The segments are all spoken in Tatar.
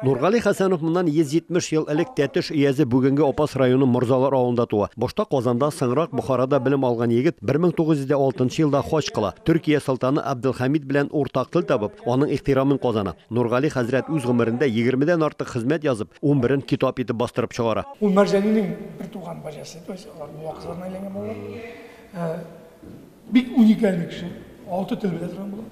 Нургали Хәсәнов моннан 170 ел элек Тәтеш өязе бүгенге Апас районы Морзалар авылында туа. Башта Казанда, соңрак Бохарада белем алган егет 1906 елда хаҗ кыла. Төркия солтаны Абделхамид белән уртак тел табып, аның ихтирамын казана. Нургали хәзрәт үз гомерендә 20 дән артык хезмәт язып, 11-ен китап итеп бастырып чыгара. Ул Мәрҗәнинең бер туган баҗасы, то есть алар мулла кызларына әйләнгән балалар. Бик уникальный кеше, алты төрмәдә торган була.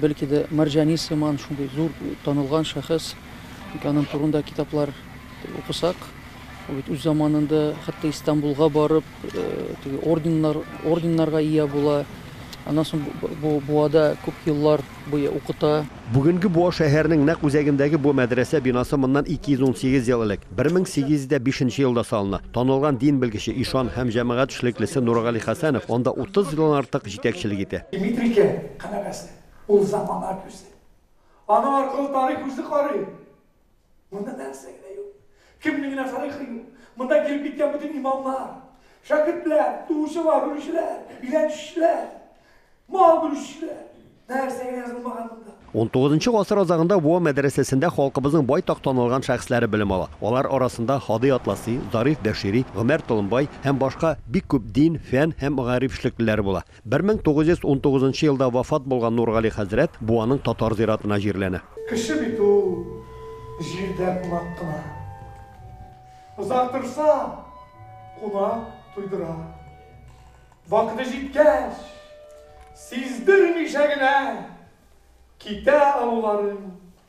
Бәлки дә Мәрҗани сыман шундый зур танылган шәхес, ник аның турында китаплар укысак, ул бит үз заманында хәтта Истанбулга барып, теге орденнар, орденнарга ия була, аннан соң бу Буада күп еллар буе укыта. Бүгенге Буа шәһәренең нәкъ үзәгендәге бу мәдрәсә бинасы моннан 218 ел элек, 1805 нче елда салына. Танылган дин белгече, ишан һәм җәмәгать эшлеклесе Нургали Хәсәнов анда 30 елдан артык җитәкчелек итә. Канәгәсе, ул замана күзе. Аның аркылы тарих үзе карый. Монда нәрсә генә юк. Кемнең генә тарихы юк. Монда килеп киткән бөтен имамнар, шәкертләр, туучылар, үлүчеләр, өйләнүчеләр, мал бүлүчеләр. Нәрсә генә язылмаган монда. 19 гасыр азагында Буа мәдрәсәсендә халкыбызның байтак танылган шәхесләре белем ала. Алар арасында Һади Атласи, Зариф Бәшири, Гомәр Толымбай һәм башка бик күп дин, фән һәм мәгариф эшлеклеләре була. Бер мең тугыз йөз унтугызынчы елда вафат булган Нургали хәзрәт Буаның татар зиратына җирләнә. Кеше бит ул җирдә кунак кына. Озак торса, кунак туйдыра. Вакыты җиткәч, сиздермичә генә китә алуларын.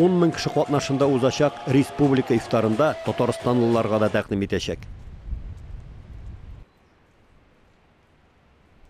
Ун мең кеше катнашында узачак республика ифтарында татарстанлыларга да тәкъдим итәчәк.